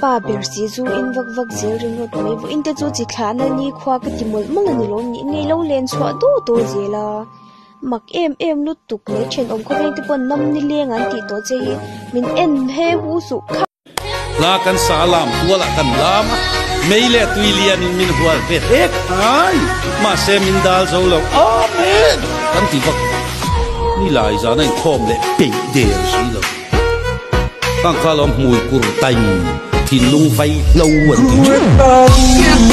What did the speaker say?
Pa ber si chu in vak vak zel ringawt mai vawin te chu chi thlah na nikhua ka ti mawlh mawlh a ni lo ni nge i lo len chhuah duau tawh zel a mak em em lutuk mai thenawm khaw veng te pawh nam nileng an tih tawh che hi min en he hu suh kha. Hla kan sa a lam tual ah kan lam a, mei leh tui lian in min hual ve hle khai, mahse min dal zo lo, Amen! kan ti vak bawk. Ni lai zan a inkhawm leh peih der si lo. Khang kha lo hmui kur taing, thinlung vai hlo an ti ṭhin.